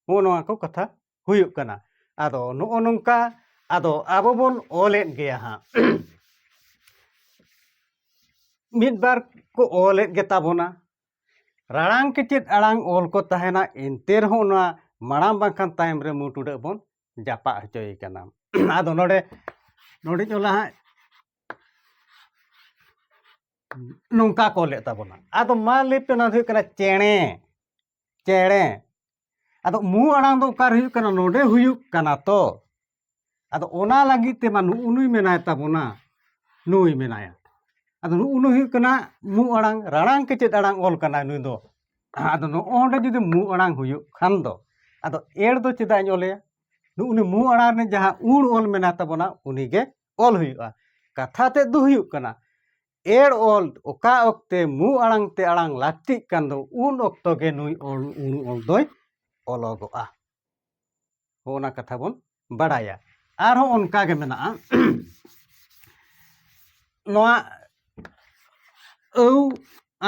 ᱱᱚᱜᱼᱚ ᱱᱚᱣᱟ ᱠᱚ ᱠᱟᱛᱷᱟ ᱦᱩᱭᱩᱜ ᱠᱟᱱᱟ ᱟᱫᱚ ᱱᱚᱜᱼᱚ ᱱᱚᱝᱠᱟ ᱟᱫᱚ ᱟᱵᱚ ᱵᱚᱱ ᱚᱞᱮᱫ ᱜᱮᱭᱟ ᱦᱟᱸᱜ ᱢᱤᱫ ᱵᱟᱨ ᱠᱚ ᱚᱞᱮᱫ ᱜᱮᱛᱟ ᱵᱚᱱᱟ ᱨᱟᱲᱟᱝ ᱠᱮᱪᱮᱫ ᱟᱲᱟᱝ ᱚᱞ ᱠᱚ ᱛᱟᱦᱮᱱᱟ ᱮᱱᱛᱮ ᱨᱮᱦᱚᱸ ᱱᱚᱣᱟ ᱢᱟᱲᱟᱝ ᱵᱟᱝᱠᱷᱟᱱ ᱛᱟᱭᱚᱢ ᱨᱮ ᱢᱩ ᱴᱩᱰᱟᱹᱜ ᱵᱚᱱ ᱡᱟᱯᱟᱜ ᱦᱚᱪᱚᱭᱮ ᱠᱟᱱᱟ ᱟᱫᱚ ᱱᱚᱰᱮ ᱱᱚᱰᱮᱧ ᱚᱞᱟ ᱦᱟᱸᱜ ᱱᱚᱝᱠᱟ ᱠᱚ ᱚᱞᱮᱫ ᱛᱟᱵᱚᱱᱟ ᱟᱫᱚ ᱢᱟ ᱞᱟᱹᱭ ᱯᱮ ᱱᱚᱣᱟ ᱫᱚ ᱦᱩᱭᱩᱜ ᱠᱟᱱᱟ ᱪᱮᱬᱮ ᱪᱮᱬᱮ ᱟᱫᱚ ᱢᱩ ᱟᱲᱟᱝ ᱫᱚ ᱚᱠᱟᱨᱮ ᱦᱩᱭᱩᱜ ᱠᱟᱱᱟ ᱱᱚᱰᱮ ᱦᱩᱭᱩᱜ ᱠᱟᱱᱟ ᱛᱚ ᱟᱫᱚ ᱚᱱᱟ ᱞᱟᱹᱜᱤᱫ ᱛᱮᱢᱟ ᱱᱩᱜᱼᱩ ᱱᱩᱭ ᱢᱮᱱᱟᱭ ᱛᱟᱵᱚᱱᱟ ᱱᱩᱭ ᱢᱮᱱᱟᱭᱟ ᱟᱫᱚ ᱱᱩᱜᱼᱩ ᱱᱩᱭ ᱦᱩᱭᱩᱜ ᱠᱟᱱᱟ ᱢᱩ ᱟᱲᱟᱝ ᱨᱟᱲᱟᱝ ᱠᱮᱪᱮᱫ ᱟᱲᱟᱝ ᱚᱞ ᱠᱟᱱᱟᱭ ᱱᱩᱭ ᱫᱚ ᱟᱫᱚ ᱱᱚᱜᱼᱚᱸᱰᱮ ᱡᱩᱫᱤ ᱢᱩ ᱟᱲᱟᱝ ᱦᱩᱭᱩᱜ ᱠᱷᱟᱱ ᱫᱚ ᱟᱫᱚ ᱮᱲ ᱫᱚ ᱪᱮᱫᱟᱜ ᱤᱧ ᱚᱞᱮᱭᱟ ᱱᱩᱜᱼᱩ ᱱᱩᱭ ᱢᱩ ᱟᱲᱟᱝ ᱨᱮ ᱡᱟᱦᱟᱸ ᱩᱲ ᱚᱞ ᱢᱮᱱᱟᱭ ᱛᱟᱵᱚᱱᱟ ᱩᱱᱤᱜᱮ ᱚᱞ ᱦᱩᱭᱩᱜᱼᱟ ᱠᱟᱛᱷᱟ ᱛᱮᱫ ᱫᱚ ᱦᱩᱭᱩᱜ ᱠᱟᱱᱟ ᱮᱲ ᱚᱞ ᱚᱠᱟ ᱚᱠᱛᱮ ᱢᱩ ᱟᱲᱟᱝ ᱛᱮ ᱟᱲᱟᱝ ᱞᱟᱹᱠᱛᱤᱜ ᱠᱟᱱ ᱫᱚ ᱩᱱ ᱚᱠᱛᱚ ᱜᱮ ᱱᱩᱭ ᱚᱞ ᱩᱱ ᱚᱞ ᱫᱚᱭ ᱚᱞᱚᱜᱚᱜᱼᱟ ᱚᱱᱟ ᱠᱟᱛᱷᱟ ᱵᱚᱱ ᱵᱟᱲᱟᱭᱟ ᱟᱨᱦᱚᱸ ᱚᱱᱠᱟ ᱜᱮ ᱢᱮᱱᱟᱜᱼᱟ ᱱᱚᱣᱟ ᱟᱹᱣ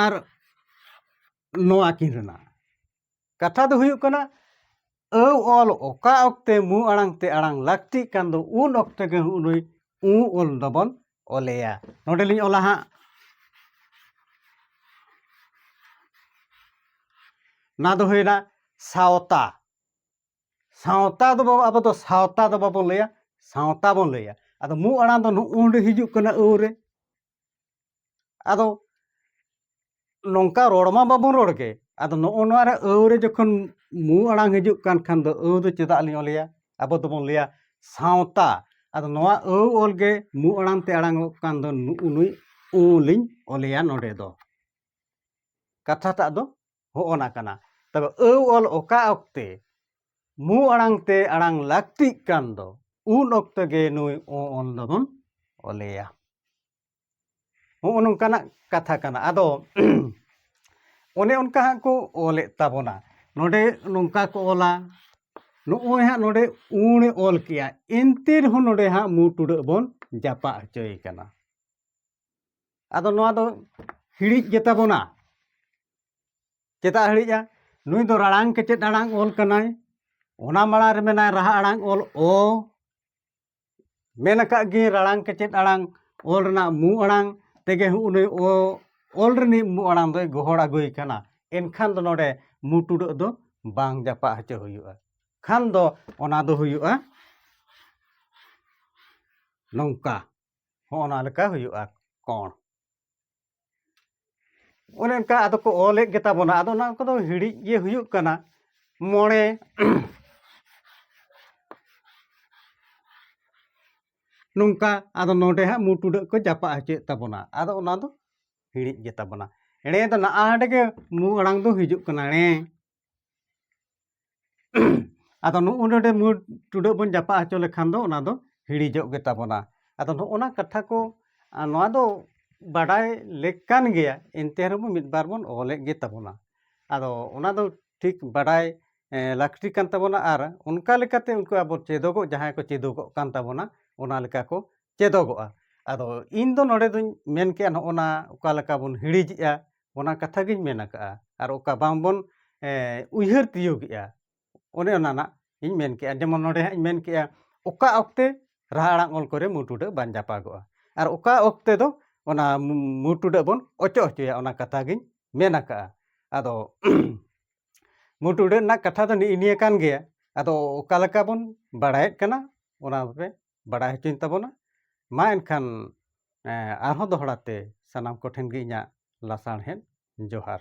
ᱟᱨ ᱱᱚᱣᱟ ᱠᱤᱱ ᱨᱮᱱᱟᱜ ᱠᱟᱛᱷᱟ ᱫᱚ ᱦᱩᱭᱩᱜ ᱠᱟᱱᱟ ᱟᱹᱣ ᱚᱞ ᱚᱠᱟ ᱚᱠᱛᱮ ᱢᱩ ᱟᱲᱟᱝ ᱛᱮ ᱟᱲᱟᱝ ᱞᱟᱹᱠᱛᱤᱜ ᱠᱟᱱ ᱫᱚ ᱩᱱ ᱚᱠᱛᱮ ᱜᱮ ᱱᱩᱭ ᱩ ᱚᱞ ᱫᱚᱵᱚᱱ ᱚᱞᱮᱭᱟ ᱱᱚᱰᱮᱞᱤᱧ ᱚᱞᱟ ᱦᱟᱸᱜ ᱚᱱᱟ ᱫᱚ ᱦᱩᱭᱱᱟ ᱥᱟᱶᱛᱟ ᱥᱟᱶᱛᱟ ᱫᱚ ᱵᱟᱵᱚ ᱟᱵᱚ ᱫᱚ ᱥᱟᱶᱛᱟ ᱫᱚ ᱵᱟᱵᱚᱱ ᱞᱟᱹᱭᱟ ᱥᱟᱶᱛᱟ ᱵᱚᱱ ᱞᱟᱹᱭᱟ ᱟᱫᱚ ᱢᱩ ᱟᱲᱟᱝ ᱫᱚ ᱱᱚᱜᱼᱚᱸᱰᱮ ᱦᱤᱡᱩᱜ ᱠᱟᱱᱟ ᱟᱹᱣ ᱨᱮ ᱟᱫᱚ ᱱᱚᱝᱠᱟ ᱨᱚᱲ ᱢᱟ ᱵᱟᱵᱚᱱ ᱨᱚᱲ ᱜᱮ ᱟᱫᱚ ᱱᱚᱜᱼᱚ ᱱᱚᱣᱟ ᱨᱮ ᱟᱹᱣ ᱨᱮ ᱡᱚᱠᱷᱚᱱ ᱢᱩ ᱟᱲᱟᱝ ᱦᱤᱡᱩᱜ ᱠᱟᱱ ᱠᱷᱟᱱ ᱫᱚ ᱟᱹᱣ ᱫᱚ ᱪᱮᱫᱟᱜ ᱞᱤᱧ ᱚᱞᱮᱭᱟ ᱟᱵᱚ ᱫᱚᱵᱚᱱ ᱞᱟᱹᱭᱟ ᱥᱟᱶᱛᱟ ᱟᱫᱚ ᱱᱚᱣᱟ ᱟᱹᱣ ᱚᱞ ᱜᱮ ᱢᱩ ᱟᱲᱟᱝ ᱛᱮ ᱟᱲᱟᱝᱚᱜ ᱠᱟᱱ ᱫᱚ ᱱᱩᱭ ᱩ ᱞᱤᱧ ᱚᱞᱮᱭᱟ ᱱᱚᱰᱮ ᱫᱚ ᱠᱟᱛᱷᱟᱴᱟᱜ ᱫᱚ ᱦᱚᱜᱼᱚ ᱱᱟ ᱠᱟᱱᱟ ᱛᱚᱵᱮ ᱟᱹᱣ ᱚᱞ ᱚᱠᱟ ᱚᱠᱛᱮ ᱢᱩ ᱟᱲᱟᱝ ᱛᱮ ᱟᱲᱟᱝ ᱞᱟᱹᱠᱛᱤᱜ ᱠᱟᱱ ᱫᱚ ᱩᱱ ᱚᱠᱛᱚ ᱜᱮ ᱱᱩᱭ ᱚ ᱚᱞ ᱫᱚᱵᱚᱱ ᱚᱞᱮᱭᱟ ᱦᱚᱜᱼᱚ ᱱᱚᱝᱠᱟᱱᱟᱜ ᱠᱟᱛᱷᱟ ᱠᱟᱱᱟ ᱟᱫᱚ ᱚᱱᱮ ᱚᱱᱠᱟ ᱦᱟᱸᱜ ᱠᱚ ᱚᱞᱮᱫ ᱛᱟᱵᱚᱱᱟ ᱱᱚᱰᱮ ᱱᱚᱝᱠᱟ ᱠᱚ ᱚᱞᱟ ᱱᱚᱜᱼᱚᱭ ᱦᱟᱸᱜ ᱱᱚᱰᱮ ᱩᱬᱮ ᱚᱞ ᱠᱮᱜᱼᱟ ᱮᱱᱛᱮ ᱨᱮᱦᱚᱸ ᱱᱚᱰᱮ ᱦᱟᱸᱜ ᱢᱩ ᱴᱩᱰᱟᱹᱜ ᱵᱚᱱ ᱡᱟᱯᱟᱜ ᱦᱚᱪᱚᱭᱮ ᱠᱟᱱᱟ ᱟᱫᱚ ᱱᱚᱣᱟ ᱫᱚ ᱦᱤᱲᱤᱡ ᱜᱮᱛᱟ ᱵᱚᱱᱟ ᱪᱮᱫᱟᱜ ᱦᱤᱲᱤᱡᱟ ᱱᱩᱭ ᱫᱚ ᱨᱟᱲᱟᱝ ᱠᱮᱪᱮᱫ ᱟᱲᱟᱝ ᱚᱞ ᱠᱟᱱᱟᱭ ᱚᱱᱟ ᱢᱟᱲᱟᱝ ᱨᱮ ᱢᱮᱱᱟᱭ ᱨᱟᱦᱟ ᱟᱲᱟᱝ ᱚᱞ ᱚ ᱢᱮᱱ ᱟᱠᱟᱫ ᱜᱮ ᱨᱟᱲᱟᱝ ᱠᱮᱪᱮᱫ ᱟᱲᱟᱝ ᱚᱞ ᱨᱮᱱᱟᱜ ᱢᱩ ᱟᱲᱟᱝ ᱛᱮᱜᱮ ᱩᱱᱤ ᱚ ᱚᱞ ᱨᱤᱱᱤᱡ ᱢᱩ ᱟᱲᱟᱝ ᱫᱚᱭ ᱜᱚᱦᱚᱲ ᱟᱹᱜᱩᱭ ᱠᱟᱱᱟ ᱮᱱᱠᱷᱟᱱ ᱫᱚ ᱱᱚᱰᱮ ᱢᱩ ᱴᱩᱰᱟᱹᱜ ᱫᱚ ᱵᱟᱝ ᱡᱟᱯᱟᱜ ᱦᱚᱪᱚ ᱦᱩᱭᱩᱜᱼᱟ ᱠᱷᱟᱱ ᱫᱚ ᱚᱱᱟ ᱫᱚ ᱦᱩᱭᱩᱜᱼᱟ ᱱᱚᱝᱠᱟ ᱦᱚᱸ ᱚᱱᱟ ᱞᱮᱠᱟ ᱦᱩᱭᱩᱜᱼᱟ ᱠᱚᱬ ᱚᱱᱮ ᱚᱱᱠᱟ ᱟᱫᱚ ᱠᱚ ᱚᱞᱮᱫ ᱜᱮᱛᱟ ᱵᱚᱱᱟ ᱟᱫᱚ ᱚᱱᱟ ᱠᱚᱫᱚ ᱦᱤᱲᱤᱡ ᱜᱮ ᱦᱩᱭᱩᱜ ᱠᱟᱱᱟ ᱢᱚᱬᱮ ᱱᱚᱝᱠᱟ ᱟᱫᱚ ᱱᱚᱰᱮ ᱦᱟᱸᱜ ᱢᱩ ᱴᱩᱰᱟᱹᱜ ᱠᱚ ᱡᱟᱯᱟᱜ ᱦᱚᱪᱚᱭᱮᱫ ᱛᱟᱵᱚᱱᱟ ᱟᱫᱚ ᱚᱱᱟ ᱫᱚ ᱦᱤᱲᱤᱡ ᱜᱮᱛᱟ ᱵᱚᱱᱟ ᱮᱲᱮ ᱫᱚ ᱱᱟᱜ ᱟᱸᱰᱮ ᱜᱮ ᱢᱩ ᱟᱲᱟᱝ ᱫᱚ ᱦᱤᱡᱩᱜ ᱠᱟᱱᱟ ᱮᱲᱮ ᱟᱫᱚ ᱱᱚᱜᱼᱚ ᱱᱚᱰᱮ ᱢᱩᱸ ᱴᱩᱰᱟᱹᱜ ᱵᱚᱱ ᱡᱟᱯᱟᱜ ᱦᱚᱪᱚ ᱞᱮᱠᱷᱟᱱ ᱫᱚ ᱚᱱᱟ ᱫᱚ ᱦᱤᱲᱤᱡᱚᱜ ᱜᱮᱛᱟ ᱵᱚᱱᱟ ᱟᱫᱚ ᱱᱚᱜᱼᱚ ᱱᱟ ᱠᱟᱛᱷᱟ ᱠᱚ ᱱᱚᱣᱟ ᱫᱚ ᱵᱟᱰᱟᱭ ᱞᱮᱠ ᱠᱟᱱ ᱜᱮᱭᱟ ᱮᱱᱛᱮ ᱨᱮᱦᱚᱸ ᱢᱤᱫ ᱵᱟᱨ ᱵᱚᱱ ᱚᱞᱮᱫ ᱜᱮᱛᱟ ᱵᱚᱱᱟ ᱟᱫᱚ ᱚᱱᱟ ᱫᱚ ᱴᱷᱤᱠ ᱵᱟᱰᱟᱭ ᱞᱟᱹᱠᱛᱤ ᱠᱟᱱ ᱛᱟᱵᱚᱱᱟ ᱟᱨ ᱚᱱᱠᱟ ᱞᱮᱠᱟᱛᱮ ᱩᱱᱠᱩ ᱟᱵᱚ ᱪᱮᱫᱚᱜᱚᱜ ᱡᱟᱦᱟᱸᱭ ᱠᱚ ᱪᱮᱫᱚᱜᱚᱜ ᱠᱟᱱ ᱛᱟᱵᱚᱱᱟ ᱚᱱᱟ ᱞᱮᱠᱟ ᱠᱚ ᱪᱮᱫᱚᱜᱚᱜᱼᱟ ᱟᱫᱚ ᱤᱧ ᱫᱚ ᱱᱚᱰᱮ ᱫᱚᱧ ᱢᱮᱱ ᱠᱮᱜᱼᱟ ᱱᱚᱜᱼᱚ ᱱᱟ ᱚᱠᱟ ᱞᱮᱠᱟ ᱵᱚᱱ ᱦᱤᱲᱤᱡᱮᱜᱼᱟ ᱚᱱᱟ ᱠᱟᱛᱷᱟ ᱜᱤᱧ ᱢᱮᱱ ᱟᱠᱟᱫᱼᱟ ᱟᱨ ᱚᱠᱟ ᱵᱟᱝ ᱵᱚᱱ ᱩᱭᱦᱟᱹᱨ ᱛᱤᱭᱳᱜᱮᱜᱼᱟ ᱚᱱᱮ ᱚᱱᱟ ᱱᱟᱜ ᱤᱧ ᱢᱮᱱ ᱠᱮᱜᱼᱟ ᱡᱮᱢᱚᱱ ᱱᱚᱰᱮ ᱦᱟᱸᱜ ᱤᱧ ᱢᱮᱱ ᱠᱮᱜᱼᱟ ᱚᱠᱟ ᱚᱠᱛᱮ ᱨᱟᱦᱟ ᱟᱲᱟᱝ ᱚᱞ ᱠᱚᱨᱮ ᱢᱩ ᱴᱩᱰᱟᱹᱜ ᱵᱟᱝ ᱡᱟᱯᱟᱜᱚᱜᱼᱟ ᱟᱨ ᱚᱠᱟ ᱚᱠᱛᱮ ᱫᱚ ᱚᱱᱟ ᱢᱩ ᱴᱩᱰᱟᱹᱜ ᱵᱚᱱ ᱚᱪᱚᱜ ᱦᱚᱪᱚᱭᱟ ᱚᱱᱟ ᱠᱟᱛᱷᱟ ᱜᱤᱧ ᱢᱮᱱ ᱟᱠᱟᱫᱼᱟ ᱟᱫᱚ ᱢᱩ ᱴᱩᱰᱟᱹᱜ ᱨᱮᱱᱟᱜ ᱠᱟᱛᱷᱟ ᱫᱚ ᱱᱮᱜᱼᱮ ᱱᱤᱭᱟᱹ ᱠᱟᱱ ᱜᱮᱭᱟ ᱟᱫᱚ ᱚᱠᱟ ᱞᱮᱠᱟ ᱵᱚᱱ ᱵᱟᱲᱟᱭᱮᱫ ᱠᱟᱱᱟ ᱚᱱᱟ ᱯᱮ ᱵᱟᱰᱟᱭ ᱦᱚᱪᱚᱧ ᱛᱟᱵᱚᱱᱟ ᱢᱟ ᱮᱱᱠᱷᱟᱱ ᱟᱨᱦᱚᱸ ᱫᱚᱦᱲᱟ ᱛᱮ ᱥᱟᱱᱟᱢ ᱠᱚᱴᱷᱮᱱ ᱜᱮ ᱤᱧᱟᱹᱜ ᱞᱟᱥᱟᱬᱦᱮᱫ ᱡᱚᱦᱟᱨ